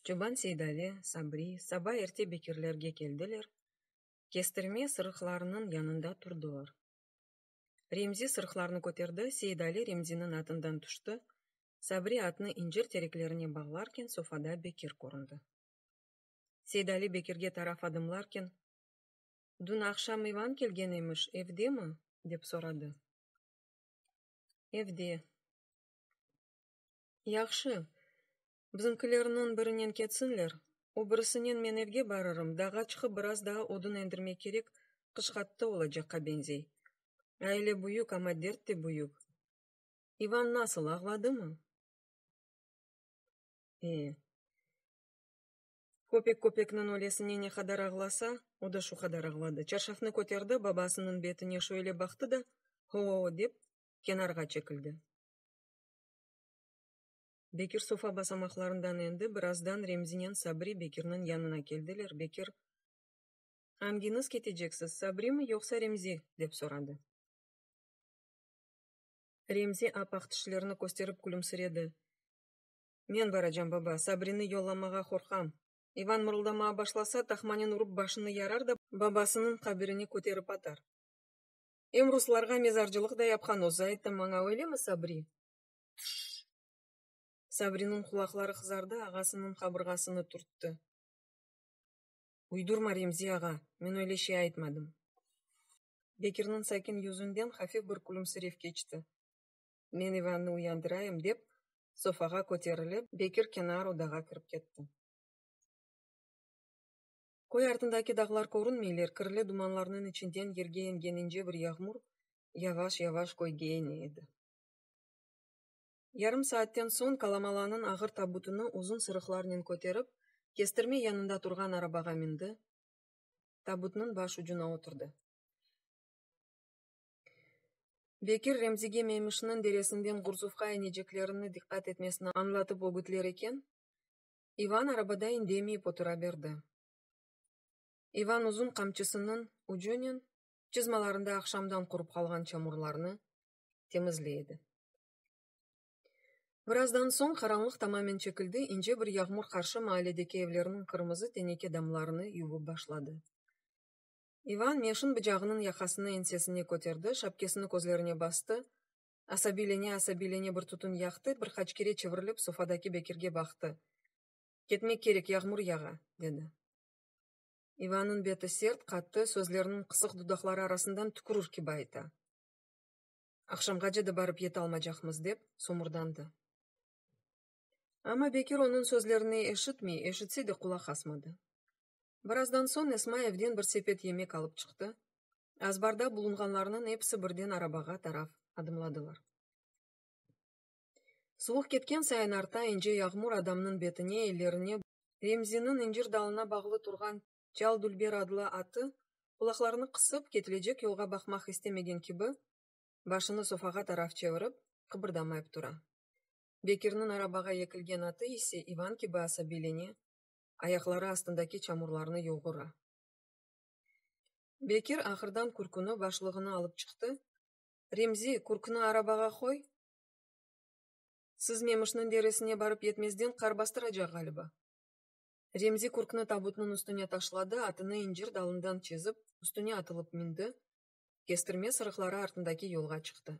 Çoban Seydali, Sabri, saba erte bekirlerge keldiler, kestirme sırıqlarınıñ yanında turdılar. Remzi sırıqlarnı köterdi, Seydali Remziniñ atından tüşti, Sabri atnı incir tereklerine bağlarken sofada Bekir köründi. Seydali Bekirge taraf adımlarken. Dün aqşam İvan kelgen emiş, evdemi? dep soradı. Evde. Yahşı, bizimkilerniñ birinen ketsinler, o birisinen men evge barırım, dağğa çıqıp biraz daa odun endirmek kerek, qış qattı olacaqqa beñzey. Aile büyük, amma dert de büyük. İvan nasıl, ağladımı? E. Köpek köpekniñ ölesine ne qadar ağlasa, o da şu qadar ağladı. Çarşafnı köterdi, babasınıñ betine şöyle baqtı da, ho-o-o dep, kenarğa çekildi. Bekir sofa basamaqlarından endi. Birazdan Remzinen Sabri Bekirniñ yanına keldiler. Bekir, Angiñiz keteceksiz, Sabrimi, yoqsa Remzi? dep soradı. Remzi ap-aq tişlerini kösterip külümsiredi. Men baracam, baba, Sabrini yollamağa qorqam. İvan mırıldamağa başlasa, tahmanen urıp başını yarar da, babasınıñ qabirine köterip atar. Em ruslarğa mezarcılıq da yapqan o, zaitten maña öylemi, Sabri? Tüş! Sabriniñ qulaqları qızardı, ağasınıñ qabırğasını turttı. Uydurma, Remzi ağa, men öyle şey aytmadım. Bekirniñ sakin yüzünden hafif bir külümsirev keçti. men İvannı uyandırayım, dep, sofağa köterilip, Bekir kenar odağa kirip ketti. Köy artındaki dağlar körünmeyler, kirli dumanlarnıñ içinden yerge eñgen ince bir yağmur yavaş-yavaş köyge eñe edi. Yarım saatten soñ Kalamalanıñ ağır tabutını uzun sırıqlarnen köterip, kestirme yanında turğan arabağa mindi, tabutnıñ baş ucuna oturdı. Bekir Remzige Meymişniñ deresinden Gurzufqa ineceklerini diqqat etmesini añlatıp ögütler eken, İvan arabada indemeyip otura berdi. İvan uzun qamçısınıñ ucunen çızmalarında aqşamdan qurıp qalğan çamurlarnı temizley edi. Birazdan soñ qaranlıq tamamen çekildi, ince bir yağmur qarşı maaledeki evlerniñ qırmızı teneke damlarını yuvıp başladı. İvan meşin bıcağınıñ yaqasını ensesine köterdi, şapkesini közlerine bastı, asabiylene-asabiylene bir tütün yaqtı, bir qaç kere çevirilip sofadaki Bekirge baqtı. Ketmek kerek, yağmur yağa, dedi. İvannıñ beti sert, qattı, sözleriniñ qısıq dudaqları arasından tükürür kibi ayta. Aqşamğace de barıp yetalmacaqmız, dep somurdandı. Amma Bekir onıñ sözlerini eşitmey, eşitse de qulaq asmadı. Birazdan soñ Esma evden bir sepet yemek alıp çıqtı, azbarda bulunğanlarnıñ episi birden arabağa taraf adımladılar. Suvuq ketken sayın arta, ince yağmur adamnıñ betine, ellerine, Remziniñ incir dalına bağlı turğan Çal Dülber adlı atı, qulaqlarını qısıp, ketilecek yolğa baqmaq istemegen kibi, başını sofağa taraf çevirip, qıbırdamayıp tura. Bekirniñ arabağa ekilgen atı ise ivan kibi asabiylene, ayaqları astındaki çamurlarnı yoğura. Bekir ahırdan kürküni, başlığını alıp çıqtı. Remzi, kürküni arabağa qoy! Siz Memişniñ deresine barıp yetmezden qar bastıracaq ğaliba. Remzi kürküni tabutnıñ üstüne taşladı, atını incir dalından çezip, üstüne atılıp mündi, kestirme sırıqları artındaki yolğa çıqtı.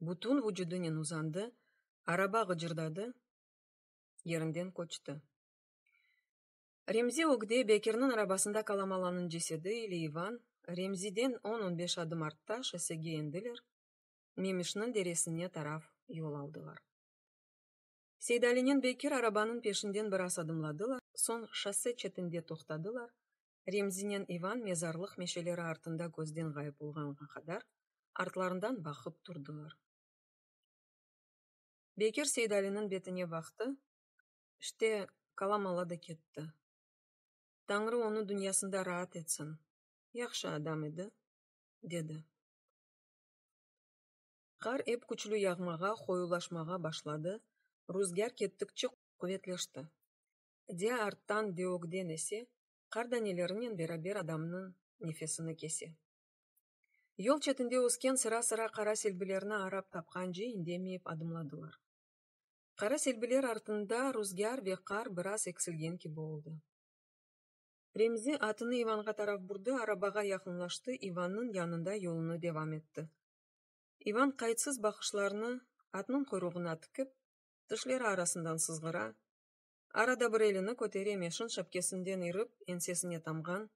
bütün vucudınen uzandı, araba ğıcırdadı, yerinden köçti. Remzi ögde Bekirniñ arabasında Kalamalanıñ cesedi ile İvan, Remziden on-on beş adım artta şossege endiler, Memişniñ deresine taraf yol aldılar. Seydalinen Bekir arabanıñ peşinden biraz adımladılar, soñ şosse çetinde toqtadılar, Remzinen İvan mezarlıq meşeleri artında közden ğayıp olğanğa qadar artlarından baqıp turdılar. Bekir Seydaliniñ betine baqtı, işte, Kalamala da ketti. Tañrı onı dünyasında raat etsin, yahşı adam edi, dedi. Qar ep küçlü yağmağa, qoyulaşmağa başladı, ruzgâr kettikçe quvetleşti. de arttan de ögden ese, qar danelerinen beraber adamnıñ nefesini kese. Yol çetinde ösken sıra-sıra qara selbilerni arap tapqance indemeyip adımladılar. Qara selbiler artında ruzgâr ve qar biraz eksilgen kibi oldı. Remzi atını İvanğa taraf burdı, arabağa yaqınlaştı, İvannıñ yanında yolunı devam etti. İvan qaytsız baqışlarını atnıñ quyruğına tikip, tişleri arasından sızğıra, Arada bir elini kötere meşin şapkesinden irip ensesine tamğan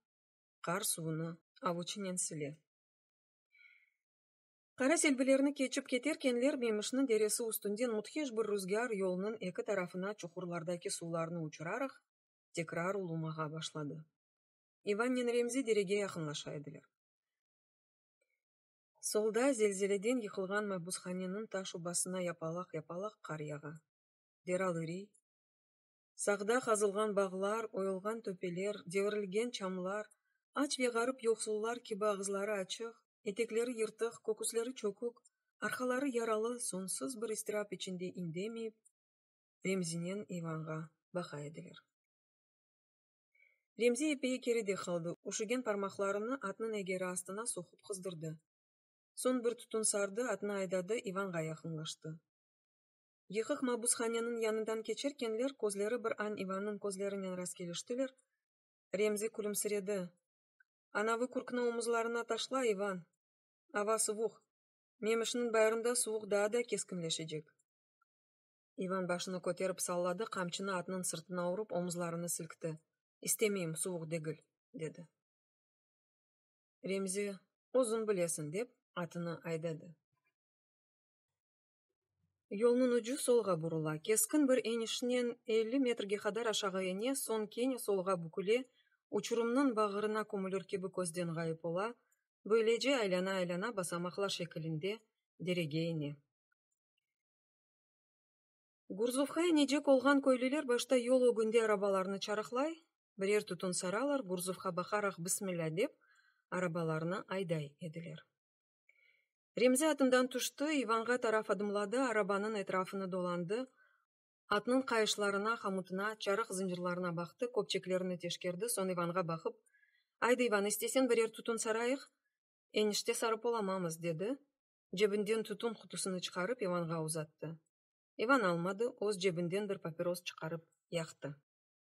qar suvunı avuçınen sile. Qara selbilerni keçip keterkenler Memişniñ deresi üstünden müthiş bir ruzgâr yolnıñ eki tarafına çuhurlardaki suvlarnı uçuraraq tekrar ulumağa başladı. İvannen Remzi derege yaqınlaşa ediler. Solda zelzeleden yıqılğan mabushaneniñ taş ubasına yapalaq-yapalaq qar yağa. deral üriy. Sağda qazılğan bağlar, oyulğan töpeler, devirilgen çamlar, aç ve ğarip-yoqsullar kibi ağızları açıq, etekleri yırtıq, köküsleri çökük, arqaları yaralı soñsuz bir istirap içinde indemeyip, Remzinen İvanğa baqa ediler. Remzi epey keride qaldı, üşügen parmaqlarını atnıñ egeri astına soqup qızdırdı. Soñ bir tutun sardı, atnı aydadı, İvanğa yaqınlaştı. Yıqıq mabushaneniñ yanından keçerkenler közleri bir an İvannıñ közlerinen rastkeliştiler, Remzi külümsiredi, Anavı kürkni omuzlarına taşla, İvan! Ava suvuq, Memişniñ bayırında suvuq daa da keskinleşecek. İvan başını köterip salladı, qamçını atnıñ sırtına urıp, omuzlarını silkti, İstemeyim, suvuq degil, dedi. Remzi, Özüñ bilesiñ, dep, atını aydadı. Yolnıñ ucu solğa burula, keskin bir enişnen elli metrge qadar aşağı ene, soñ kene solğa büküle, uçurımnıñ bağırına kömülür kibi közden ğayıp ola, böylece aylana-aylana basamaqlar şekilinde derege ene. Gurzufqa enecek olğan köylüler başta yol ögünde arabalarnı çarıqlay, birer tütün saralar, Gurzufqa baqaraq bismilla dep, arabalarnı ayday ediler. Remzi atından tüşti, İvanğa taraf adımladı, arabanıñ etrafını dolandı, atnıñ qayışlarına, hamutına, çarıq zıncırlarına baqtı, köpçeklerini teşkerdi, soñ İvanğa baqıp, Aydı, İvan, istesen birer tütün sarayıq? Enişte sarıp olamamız, dedi, cebinden tütün qutusını çıqarıp, İvanğa uzattı. İvan almadı, öz cebinden bir papiros çıqarıp yaqtı.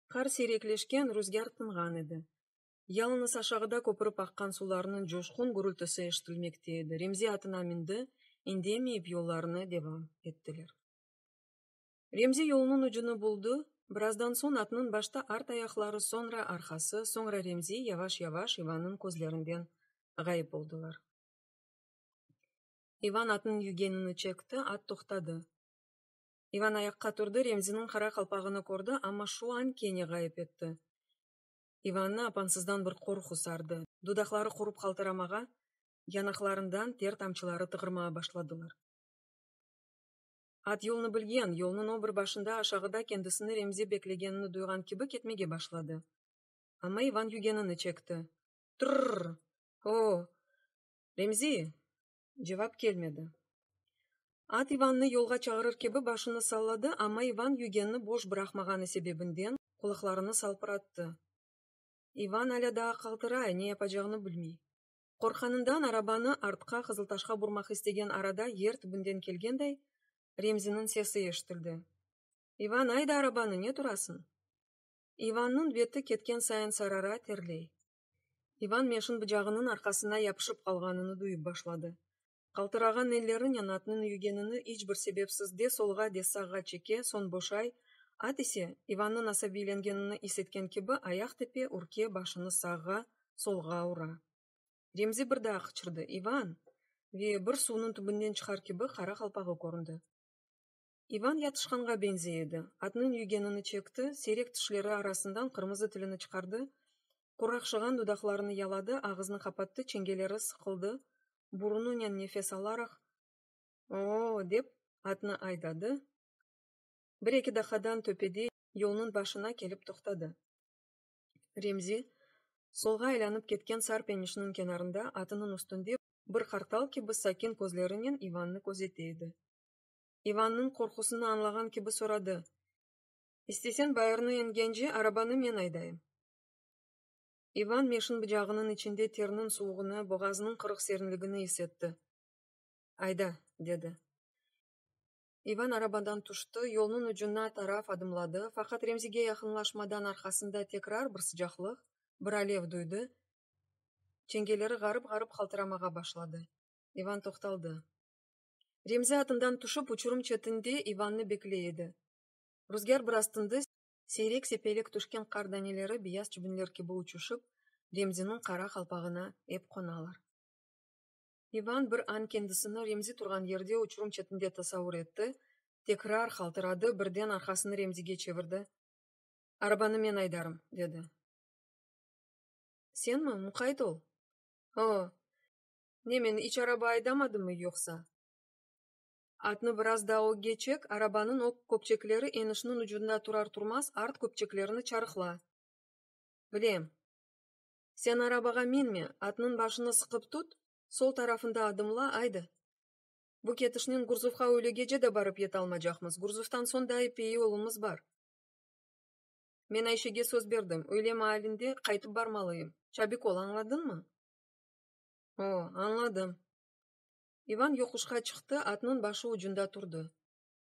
Qar siyrekleşken, rüzgâr tınğan edi. Yalıñız aşağıda köpürip aqqan sularnıñ coşqun gürültüsi eşitilmekte edi. Remzi atına mindi, indemeyip yollarına devam ettiler. Remzi yolunıñ ucunı buldı, birazdan soñ atnıñ başta art ayaqları, soñra arqası, soñra Remzi yavaş-yavaş İvannıñ közlerinden ğayıp oldılar. İvan atnıñ yügenini çekti, at toqtadı. İvan ayaqqa turdı, Remziniñ qara qalpağını kördi, amma şu an kene ğayıp etti. İvannı apansızdan bir qorqu sardı. Dudaqları qurıp qaltıramağa, yanaqlarından ter tamçıları tığırmağa başladılar. At yolnı bilgen, yolnıñ o bir başında aşağıda kendisini Remzi beklegenini duyğan kibi ketmege başladı. Amma İvan yügenini çekti. Tırrr! O-o! Remzi! Cevap kelmedi. At İvannı yolğa çağırır kibi başını salladı, amma İvan yügenni boş bıraqmağanı sebebinden qulaqlarını salpırattı. İvan alâ daa qaltıray, ne yapacağını bilmey. Qorqqanından arabanı artqa Qızıltaşqa burmaq istegen arada yer tübünden kelgenday Remziniñ sesi eşitildi, İvan, ayda arabanı, ne turasıñ? İvannıñ beti ketken sayın sarara, terley. İvan meşin bıcağınıñ arqasına yapışıp qalğanını duyıp başladı. Qaltırağan elleri Nenatnıñ yügenini iç bir sebepsiz de solğa, de sağğa çeke, soñ boşay, at ise, İvannıñ asabiylengenini is etken kibi, ayaq tepe ürke, başını sağğa, solğa ura. Remzi bir daa qıçırdı, İvan! ve bir suvnıñ tübünden çıqar kibi qara qalpağı köründi. İvan yatışqanğa beñzey edi. Atnıñ yügenini çekti, seyrek tişleri arasından qırmızı tilini çıqardı, quraqşığan dudaqlarını yaladı, ağıznı qapattı, çengeleri sıqıldı, burununen nefes alaraq, Oo-o-o! dep, atnı aydadı, bir-eki daqadan töpede, yolnıñ başına kelip toqtadı. Remzi, solğa aylanıp ketken sar penişniñ kenarında, atınıñ üstünde, bir qartal kibi sakin közlerinen İvannı közete edi. İvannıñ qorqusını añlağan kibi soradı, İstesen, bayırnı engence, arabanı men aydayım. İvan meşin bıcağınıñ içinde terniñ suvuğını, boğazınıñ qırıq serinligini is etti. Ayda, dedi. İvan arabadan tüşti, yolnıñ ucuna taraf adımladı, faqat Remzige yaqınlaşmadan arqasında tekrar bir sıcaqlıq, bir alev duydı, çengeleri ğarıp-ğarıp qaltıramağa başladı. İvan toqtaldı. Remzi atından tüşip, uçurum çetinde İvannı bekley edi. Ruzgâr biraz tindi, seyrek-sepelek tüşken qar daneleri beyaz çibinler kibi uçuşıp, Remziniñ qara qalpağına ep qonalar. İvan bir an kendisini Remzi turğan yerde uçurum çetinde tasavur etti, tekrar qaltıradı, birden arqasını Remzige çevirdi. Arabanı men aydarım, dedi. Senmi? Muqayt ol! O! Ne, meni iç araba aydamadımı yoqsa? Atnı biraz daa ög geçek, arabanıñ ög köpçekleri enişniñ ucunda turar-turmaz art köpçeklerini çarıqla. Bilem. Sen arabağa minme, atnıñ başını sıqıp tut, sol tarafında adımla, aydı. Bu ketişnen Gurzufqa öyle gece de barıp yetalmacaqmız, Gurzuftan soñ da epey yolumız bar. Men Ayşege söz berdim, öyle maalinde qaytıp barmalıyım. Çabik ol, añladıñmı? O, añladım. İvan yoquşqa çıqtı, atnıñ başı ucunda turdı.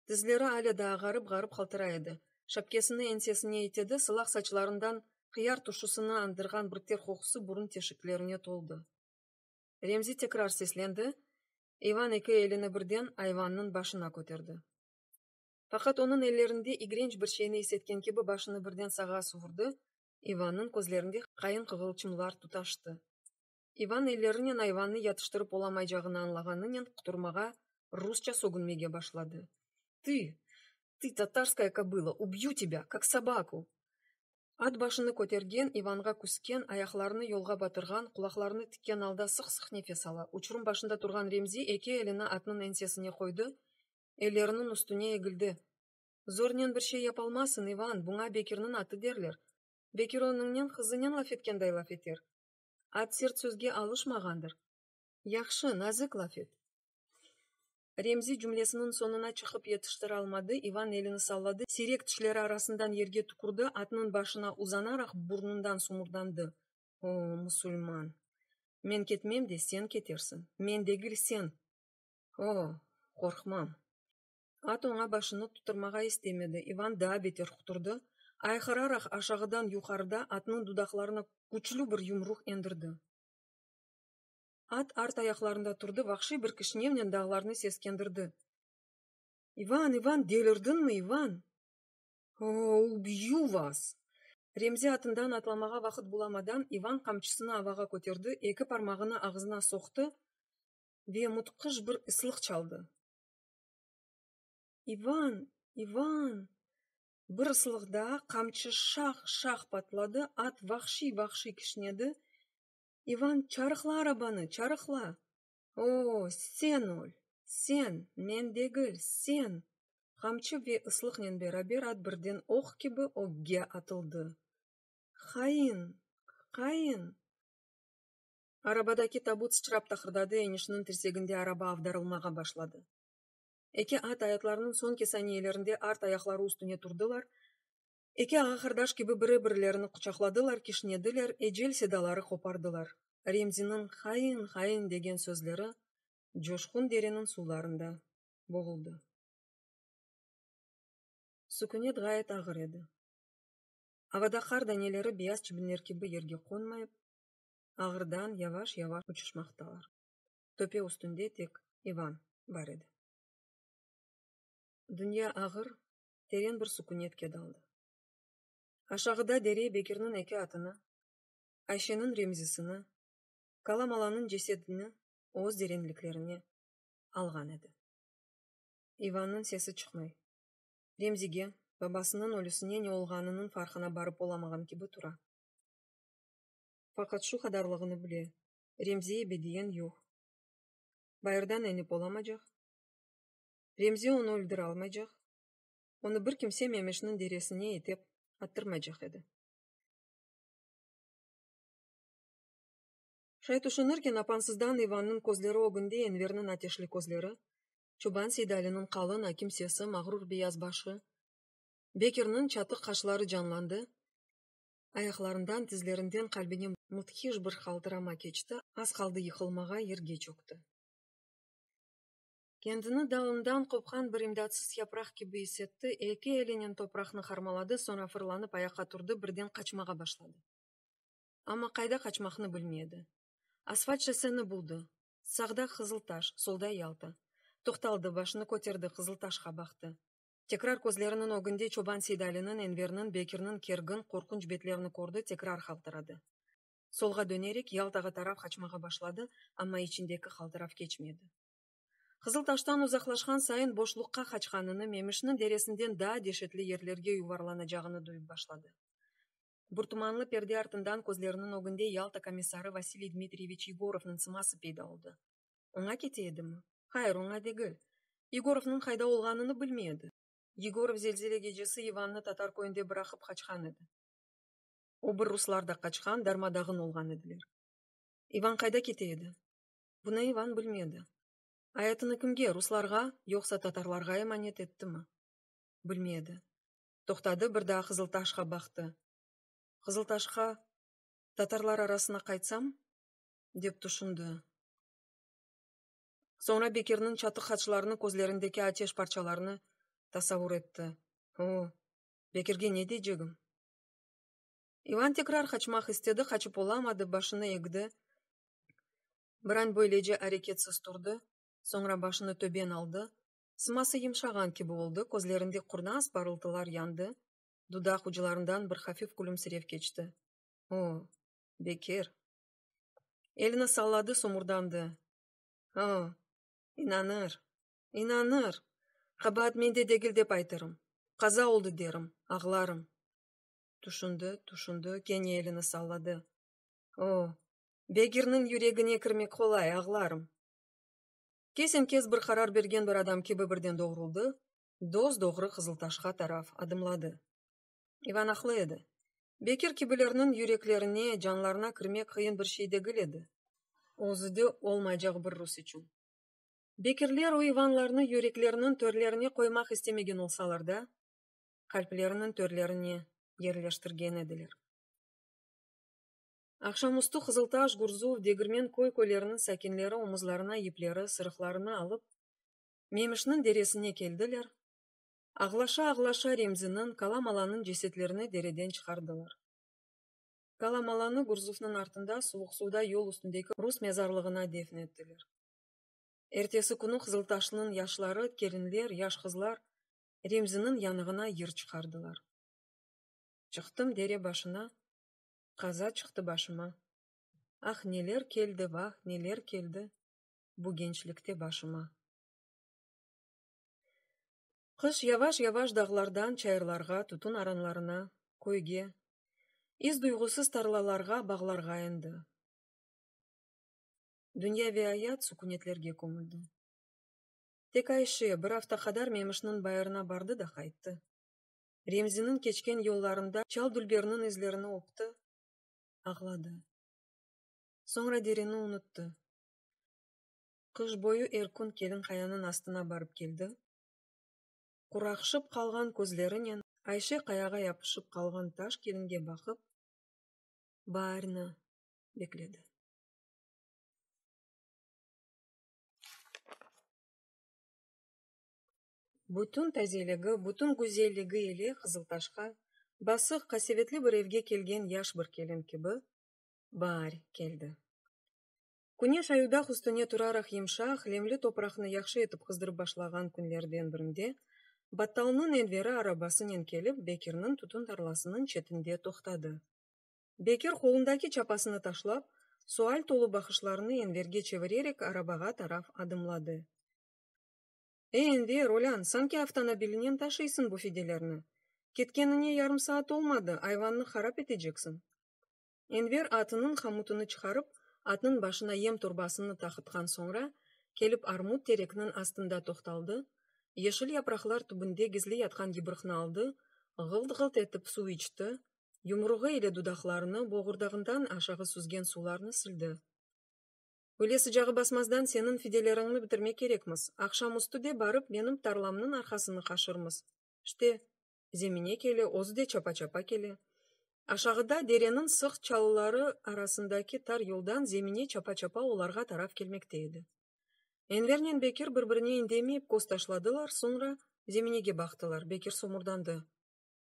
Tizleri alâ daa ğarıp-ğarıp qaltıra edi. Şapkesini ensesine itedi, sılaq saçlarından qıyar turşusını andırğan bir ter qoqusı burun teşiklerine toldı. Remzi tekrar seslendi, İvan eki elini birden ayvannıñ başına köterdi. Faqat onıñ ellerinde igrenç bir şeyni isetken kibi başını birden sağa suvurdı, İvannıñ közlerinde qayın qığılçımlar tutaştı. İvan ellerinen ayvannı yatıştırıp olamaycağını añlağanınen quturmağa, rusça sögünmege başladı. Tı! Tı, tatarskaya kobıla, ubyu tebâ, kak sobaku! At başını kötergen, İvanğa küsken, ayaqlarını yolğa batırğan, qulaqlarını tikken alda sıq-sıq nefes ala, uçurum başında turğan Remzi eki elini atnıñ ensesine qoydı, elleriniñ üstüne egildi. Zornen bir şey yapolmasın, İvan, buña Bekirniñ atı derler. Bekir onıñnen qızınen laf etkenday laf eter. At sert sözge alışmağandır. Yahşı, nazik laf et. Remzi cümlesiniñ soñuna çıqıp yetiştiralmadı, İvan elini salladı, siyrek tişleri arasından yerge tükürdi, atnıñ başına uzanaraq burnundan sumurdandı, O, musulman! Men ketmem de, sen ketersiñ. Men degil, sen! O, qorqmam! At oña başını tuturmağa istemedi, İvan daa beter quturdı, ayqıraraq aşağıdan yuqarıda atnıñ dudaqlarına küçlü bir yumruq endirdi. At art ayaqlarında turdı, vahşiy bir kişnevnen dağlarnı seskendirdi, İvan, İvan, delirdiñmi, İvan? Oo, ubyu vas! Remzi atından atlamağa vaqıt bulamadan, İvan qamçısını avağa köterdi, eki parmağını ağzına soqtı ve mutqıç bir ıslıq çaldı. İvan! İvan! Bir ıslıq daa, qamçı şah! şah! patladı, at vahşiy! vahşiy! kişnedi. İvan, çarıqla arabanı, çarıqla! Oo, sen öl! Sen! Men degil, sen! Qamçı ve ıslıqnen beraber at birden oq kibi ögge atıldı. Hain! Hain! Arabadaki tabut sıçrap taqırdadı, enişniñ tirseginde araba avdarılmağa başladı. Eki at ayatlarınıñ soñki saniyelerinde art ayaqları üstüne turdılar, eki ağa-qardaş kibi biri-birilerini quçaqladılar, kişnediler, ecel sedaları qopardılar. Remziniñ hain, hain degen sözleri coşqun dereniñ suvlarında boğuldı. Sükünet ğayet ağır edi. Avada qar daneleri beyaz çibinler kibi yerge qonmayıp, ağırdan yavaş-yavaş uçuşmaqtalar. Töpe üstünde tek İvan bar edi. Dünya ağır, teren bir sukünetke daldı. Aşağıda dere Bekirniñ eki atını, Ayşeniñ Remzisini, Kalamalanıñ cesedini öz derenliklerine alğan edi. İvannıñ sesi çıqmay, Remzige, babasınıñ ölüsine ne olğanınıñ farqına barıp olamağan kibi tura. Faqat şu qadarlığını bile, Remzi ebe diyen yoq. Bayırdan enip olamacaq. Remzi onı öldüre almaycaq. Onı bir kimse Memeşniñ deresine itep attırmaycaq edi. Şay tüşünirken, apansızdan İvannıñ közleri ögünde Enverniñ ateşli közleri, çoban Seydaliniñ qalın, akim sesi, mağrur beyaz başı, Bekirniñ çatıq qaşları canlandı, Ayaqlarından, tizlerinden qalbine mudhiş bir qaltırama keçti, az qaldı yıqılmağa, yerge çökti. Kendini dalından qopqan bir imdatsız yapraq kibi is etti, eki elinen topraqnı harmaladı, soñra fırlanıp ayaqqa turdı, birden qaçmağa başladı. Amma qayda qaçmaqnı bilmey edi. Asfalt şosseni buldı. Sağda Qızıltaş, solda Yalta. Toqtaldı, başını köterdi, Qızıltaşqa baqtı. Tekrar közleriniñ ögünde çoban Seydaliniñ, Enverniñ, Bekirniñ kergin, qorqunç betlerini kördi, tekrar haltıradı. Solğa dönerek, Yaltağa taraf qaçmağa başladı, amma içindeki haltırav keçmedi. Qızıltaştan uzaqlaşqan sayın boşluqqa qaçqanını, Memişniñ deresinden daa deşetli yerlerge yuvarlanacağını duyıp başladı. Bir tumanlı perde artından közleriniñ ögünde Yalta komissarı Vasiliy Dmitriyeviç Yegorovnıñ sıması peyda oldı. Oña kete edimi? Hayır, oña degil. Yegorovnıñ qayda olğanını bilmey edi. Yegorov zelzele gecesi İvannı tatar köyünde bıraqıp qaçqan edi. O bir ruslar da qaçqan, darma-dağın olğan ediler. İvan qayda kete edi? Bunı İvan bilmedi. Ayatını kimge, ruslarğa, yoqsa tatarlarğa emanet ettimi? Bilmedi. Toqtadı, bir daa Qızıltaşqa baqtı. Qızıltaşqa, tatarlar arasına qaytsam? dep tüşündi. Soñra Bekirniñ çatıq haçlarını, közlerindeki ateş parçalarını tasavur etti. O, Bekirge ne deycegim? İvan tekrar qaçmaq istedi, qaçıp olamadı, başını egdi. Bir an böylece areketsiz turdı, soñra başını töben aldı. Sıması yımşağan kibi oldı, közlerinde qurnaz parıltılar yandı, dudaq uclarından bir hafif külümsirev keçti. O, Bekir! Elini salladı, somurdandı. O, inanır, inanır! Qabaat mende degil dep aytırım. Qaza oldı derim, ağlarım. Tüşündi, tüşündi, kene elini salladı. O, begirniñ yüregine kirmek qolay, ağlarım. Kesen-kes bir qarar bergen bir adam kibi birden doğruldı, dos-doğru Qızıltaşqa taraf adımladı. İvan aqlı edi. Bekir kibilerniñ yüreklerine, canlarına kirmek qıyın bir şey degil edi, özü de olmaycaq bir rus içün. Bekirler o İvanlarnı yürekleriniñ törlerine qoymaq istemegen olsalar da, qalpleriniñ törlerine yerleştirgen ediler. Aqşamüstü Qızıltaş, Gurzuv, Degirmen köy-köyleriniñ sakinleri omuzlarına yipleri, sırıqlarını alıp, Memişniñ deresine keldiler, Ağlaşa-ağlaşa Remziniñ, Kalamalanıñ cesetlerini dereden çıqardılar. Kalamalanı Gurzufnıñ artında Suvuqsuvda yol üstündeki rus mezarlığına defn ettiler. Ertesi künü Qızıltaşlınıñ yaşları, kelinler, yaş qızlar Remziniñ yanığına yır çıqardılar. Çıqtım dere başına, Qaza çıqtı başıma. Ah, neler keldi, vah, neler keldi Bu gençlikte başıma. Qış yavaş-yavaş dağlardan çayırlarğa, tütün aranlarına, köyge, iz duygusız tarlalarğa, bağlarğa endi. Dünya ve ayat sükünetlerge kömüldi. Tek Ayşe bir afta qadar Memişniñ bayırına bardı da qayttı. Remziniñ keçken yollarında çal dülberniñ izlerini öpti, ağladı. Soñra derini unuttı. Qış boyu er kün kelin qayanıñ astına barıp keldi. Quraqşıp qalğan közlerinen Ayşe qayağa yapışıp qalğan taş kelinge baqıp, baarnı bekledi. Bütün tazeligi, bütün güzelligi ile Qızıltaşqa, basıq, qasevetli bir evge kelgen yaş bir kelin kibi, baar keldi. Küneş ayudaq üstüne turaraq yımşaq, lemli topraqnı yahşı etip qızdırıp başlağan künlerden birinde, Battalnıñ Enveri arabasınen kelip, Bekirniñ tütün tarlasınıñ çetinde toqtadı. Bekir, qolundaki çapasını taşlap, sual tolu baqışlarını Enverge çevirerek arabağa taraf adımladı. Ey, Enver, olân, sanki avtonobilinen taşıysıñ bu fidelerni. Ketkenine yarım saat olmadı, ayvannı harap eteceksiñ. Enver atınıñ hamutını çıqarıp, atnıñ başına yem torbasını taqıtqan soñra, kelip armut terekniñ astında toqtaldı, yeşil yapraqlar tübünde gizli yatqan yıbrıqnı aldı, ğılt-ğılt etip suv içti, yumruğı ile dudaqlarını, boğurdağından aşağı süzgen sularnı sildi. Öyle sıcağı basmazdan seniñ fideleriñni bitirmek kerekmiz. Aqşamüstü de barıp benim tarlamnıñ arqasını qaşırmız. İşte, zemine kele, özü de çapa-çapa kele. Aşağıda dereniñ sıq çalıları arasındaki tar yoldan zemine çapa-çapa olarğa taraf kelmekte edi. Envernen Bekir bir-birine indemeyip köz taşladılar, soñra zeminege baqtılar. Bekir somurdandı.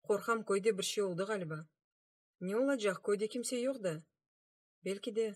Qorqam, köyde bir şey oldı ğaliba. Ne olacaq, köyde kimse yoq da. Belki de.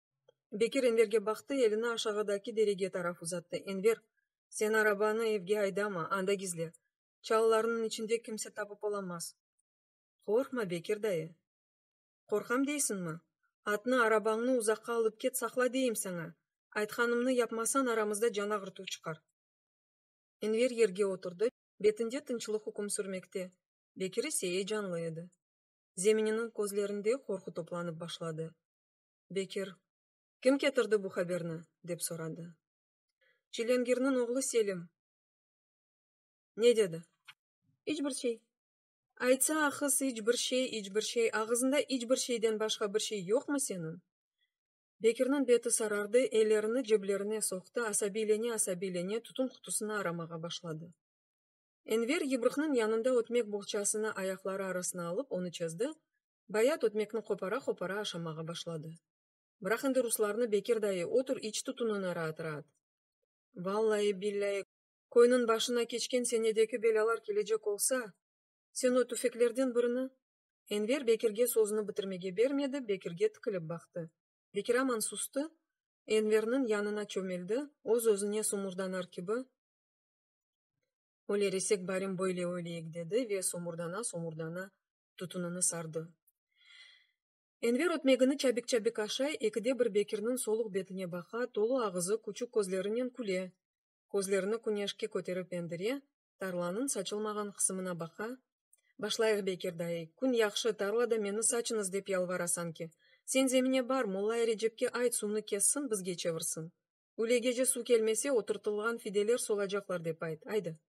Bekir Enverge baqtı, elini aşağıdaki derege taraf uzattı, Enver, sen arabanı evge aydama, anda gizle. Çalılarnıñ içinde kimse tapıp olamaz. Qorqma, Bekir dayı. Qorqam deysiñmi? Atnı, arabañnı uzaqqa alıp ket, saqla deyim saña! Aytqanımnı yapmasan, aramızda can ağırtuv çıqar. Enver yerge oturdı, betinde tınçlıq üküm sürmekte, Bekir ise eyecanlı edi. Zemininiñ közlerinde qorqu toplanıp başladı. Bekir, kim ketirdi bu haberni? dep soradı. Çilengirniñ oğlu Selim. Ne dedi? İç bir şey. Aytsa ahız iç bir şey, iç bir şey, ağızında iç bir şeyden başqa bir şey yoqmı seniñ? Bekirniñ beti sarardı, ellerini ceblerine soqtı, asabiylene-asabiylene tütün qutusını aramağa başladı. Enver yıbrıqnıñ yanında ötmek boğçasını ayaqları arasına alıp, onı çezdi, Bayat ötmekni qopara-qopara aşamağa başladı. Bıraq endi ruslarnı, Bekir dayı, otur, iç tutunına raat-raat. Vallayi, billayi, köyniñ başına keçken senedeki belâlar kelecek olsa, sen o tüfeklerden birini? Enver Bekirge sözüni bitirmege bermedi, Bekirge tikilip baqtı. Bekir aman sustı, Enverniñ yanına çömeldi, öz-özüne somurdanar kibi, Öleresek, barim böyle öleyik, dedi ve somurdana-somurdana tutunını sardı. Enver ötmegini çabik-çabik aşay, ekide bir Bekirniñ soluq betine baqa, tolu ağızı, küçük közlerinen küle, közlerini küneşke köterip endire, tarlanıñ saçılmağan qısımına baqa, Başlayıq, Bekir dayı, kün yahşı, tarlada meni saçıñız dep yalvara sanki. Sen zemine bar, Mollay Recepke ayt, suvnı kessin, bizge çevirsin. Ülegece suv kelmese, oturtılğan fideler solacaqlar, dep ayt, aydı.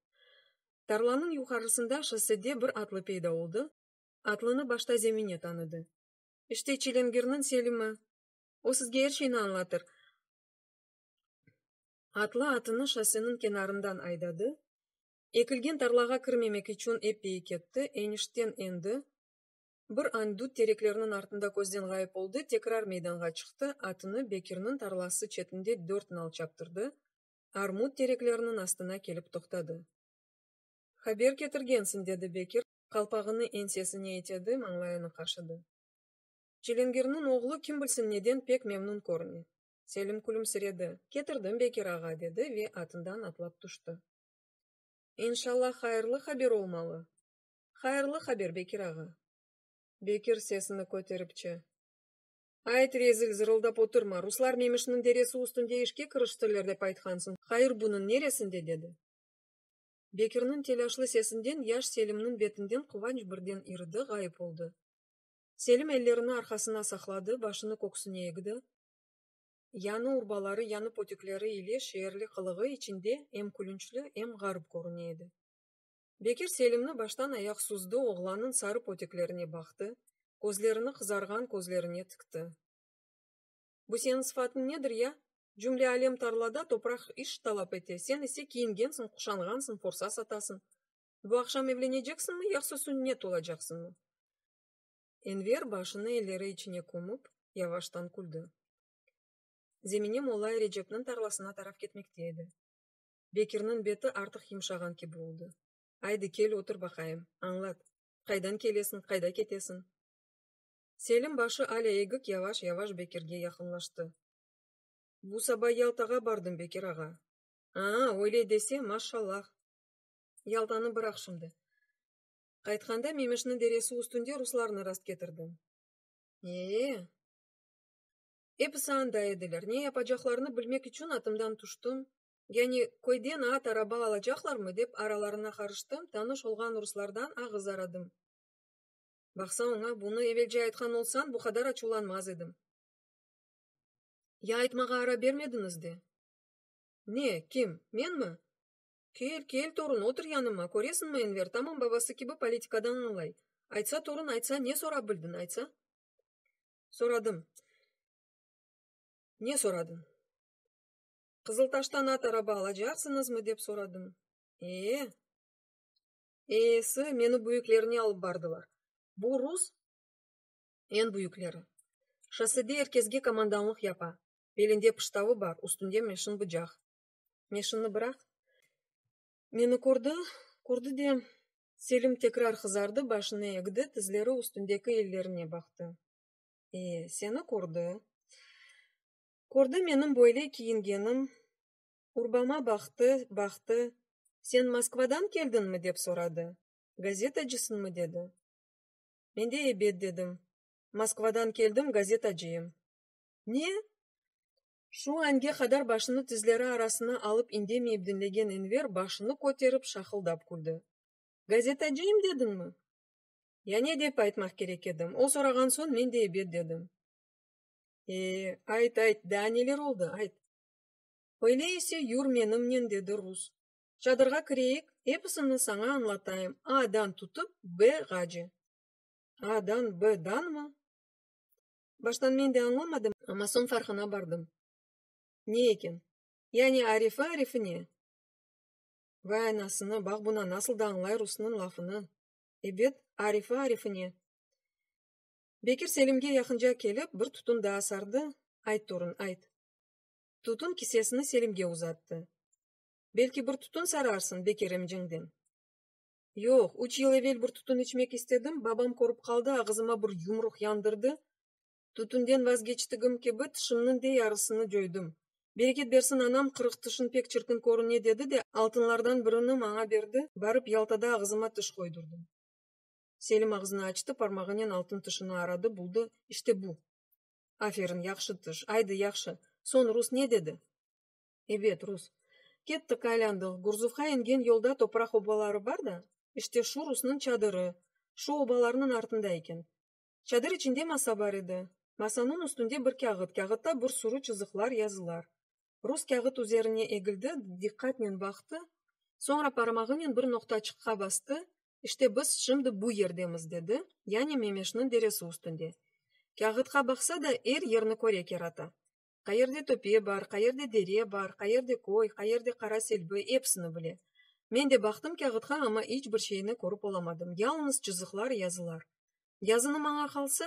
Tarlanıñ yuqarısında şossede bir atlı peyda oldı, atlını başta Zemine tanıdı. İşte Çilingirniñ Selimi. O sizge er şeyni añlatır. Atlı atını şosseniñ kenarından aydadı, ekilgen tarlağa kirmemek içün epey ketti, enişten endi, Bir an dut terekleriniñ artında közden ğayıp oldı, tekrar meydanğa çıqtı, atını Bekirniñ tarlası çetinde dört nal çaptırdı, armut terekleriniñ astına kelip toqtadı. Haber ketirgensiñ, dedi Bekir, qalpağını ensesine itedi, mañlayını qaşıdı. Çilingirniñ oğlu kim bilsin neden pek memnun körüne. Selim külümsiredi. Ketirdim, Bekir ağa, dedi ve atından atlap tüşti. İnşallah, hayırlı haber olmalı. Hayırlı haber, Bekir ağa! Bekir sesini köteripçe. Ayt, rezil, zırıldap oturma, ruslar Memişniñ deresi üstünde işke kiriştiler dep aytqansıñ, hayır bunıñ neresinde? dedi. Bekirniñ telâşlı sesinden yaş Selimniñ betinden quvanç birden iridi, ğayıp oldı. Selim ellerini arqasına saqladı, başını köksüne egdi. Yañı urbaları, yañı pötükleri ile şeerli qılığı içinde em külünçli, em ğarip körüne edi. Bekir Selimni baştan ayaq suzdı, oğlannıñ sarı poteklerine baqtı, közlerini qızarğan közlerine tikti. Bu seniñ sıfatıñ nedir ya? Cümle alem tarlada, topraq iş talap ete, sen ise kiyingensiñ, quşanğansıñ, forsa satasıñ. Bu aqşam evleneceksiñmi, yaqsa sünnet olacaqsıñmı? Enver başını elleri içine kömüp, yavaştan küldi. Zemine Mollay Recepniñ tarlasına taraf ketmekte edi. Bekirniñ beti artıq yımşağan kibi oldı. Aydı, kel otur baqayım, añlat, qaydan kelesiñ, qayda ketesiñ? Selim başı alâ egik yavaş-yavaş Bekirge yaqınlaştı. Bu saba Yaltağa bardım, Bekir ağa. A-a, öyle dese, maşşallah! Yaltanı bıraq şimdi. Qaytqanda Memeşniñ deresi üstünde ruslarnı rastketirdim. E-e! Episi anda ediler. Ne yapacaqlarını bilmek içün atımdan tüştim, Yani, köyden at, araba alacaqlarmı? dep aralarına qarıştım, tanış olğan ruslardan ağız aradım. Baqsa, oña bunı evelce aytqan olsañ, bu qadar açuvlanmaz edim. Ya aytmağa ara bermediñiz de? Ne, kim, menmi? Kel, kel, torun, otur yanıma, köresiñmi, Enver tamam babası kibi politikadan añlay. Aytsa, torun, aytsa, ne sorap bildiñ, aytsa? Soradım. Ne soradıñ? Qızıltaştan at araba alacaqsıñızmı? dep soradım. Ee? Eesi, meni büyüklerine alıp bardılar. Bu rus eñ büyükleri. Şossede er kesge komandanlıq yapa, belinde pıştavı bar, üstünde meşin bıcaq. Meşinni bıraq. Meni kördi, kördi de, Selim tekrar qızardı, başını egdi, tizleri üstündeki ellerine baqtı. Ee, seni kördi. Kördi menim böyle kiyingenim, urbama baqtı, baqtı, sen Moskvadan keldiñmi? dep soradı. Gazetacısıñmı? dedi. Men de ebet dedim. Moskvadan keldim, gazetacıyım. Ne? Şu ange qadar başını tizleri arasına alıp indemeyip diñlegen Enver başını köterip şaqıldap küldi. Gazetacıyım dediñmi? Ya ne dep aytmaq kerek edim? O sorağan soñ men de ebet dedim. Ayt, ayt, daa neler oldı, ayt! Öyle ise, yür menimnen, dedi rus. Çadırğa kireyik, episini saña añlatayım, A-dan tutıp B-ğace. A-dan B-danmı? Baştan men de añlamadım, amma soñ farqına bardım. Ne eken? Yani Arifi Arifine? Vay anasını, baq buna, nasıl da añlay rusnıñ lafını! Ebet, Arifi Arifine. Bekir Selimge yaqınca kelip, bir tutun daa sardı, Ayt, torun, ayt. Tutun kisesini Selimge uzattı. Belki bir tutun sararsıñ, Bekir emciñ, dem. Yoq, üç yıl evel bir tutun içmek istedim, babam körip qaldı, ağızıma bir yumruq yandırdı. Tütünden vazgeçtigim kibi, tişimniñ de yarısını cöydim. Bereket bersin, anam, qırıq tişiñ pek çirkin körüne, dedi de, altınlardan birini maña berdi, barıp Yaltada ağızıma tiş qoydurdım. Selim ağzını açtı, parmağınen altın tışını aradı, buldı, işte bu! Aferin, yahşı tış, aydı, yahşı! Soñ rus ne dedi? Ebet, rus. Kettik, aylandıq, Gurzuvğa engen yolda topraq obaları bar da, işte şu rusnıñ çadırı, şu obalarnıñ artında eken. Çadır içinde masa bar edi. Masanıñ üstünde bir kâğıt, kâğıtta bir sürü çızıqlar, yazılar. Rus kâğıt üzerine egildi, diqqatnen baqtı, soñra parmağınen bir noqtaçıqqa bastı, İşte biz şimdi bu yerdemiz, dedi, yani Memeşniñ deresi üstünde. Kâğıtqa baqsa da, er yerni köre kerata. Qayerde töpe bar, qayerde dere bar, qayerde köy, qayerde qara selbi, episini bile. Men de baqtım kâğıtqa, amma iç bir şeyni körip olamadım, yalınız çızıqlar, yazılar. Yazını maña qalsa,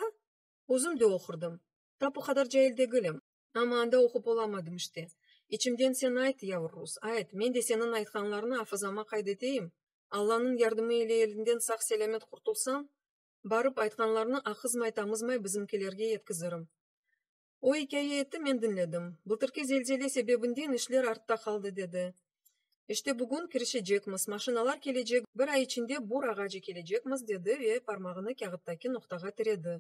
özüm de oqurdım. Tap o qadar cail degilim. Amma anda oqup olamadım işte. İçimden sen ayt, yavur rus, ayt, men de seniñ aytqanlarnı afızama qayd eteyim, Allanıñ yardımı ile elinden sağ-selâmet qurtulsam, barıp, aytqanlarnı aqızmay-tamızmay bizimkilerge yetkizirim. O ikâye etti, men diñledim. Bıltırki zelzele sebebinden işler artta qaldı, dedi. İşte bugün kirişecekmiz, maşinalar kelecek, bir ay içinde bur ağacı kelecekmiz, dedi ve parmağını kâğıttaki noqtağa tiredi.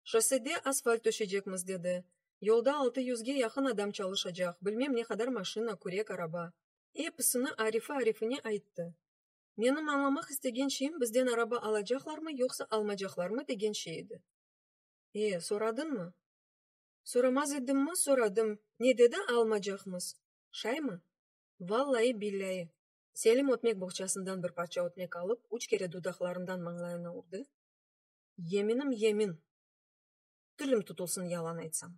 Şossede asfalt töşecekmiz, dedi. Yolda altı yüzge yaqın adam çalışacaq, bilmem ne qadar maşina, kürek, araba. Episini arifi-arifine ayttı. Menim añlamaq istegen şeyim bizden araba alacaqlarmı, yoqsa almacaqlarmı, degen şey edi. E, soradıñmı? Soramaz edimmi, soradım. Ne dedi, almacaqmız. Şaymı? Vallayı, billâyi. Selim ötmek boğçasından bir parça ötmek alıp, üç kere dudaqlarından mañlayına urdı. Yeminim yemin. Tilim tutulsın yalan aytsam.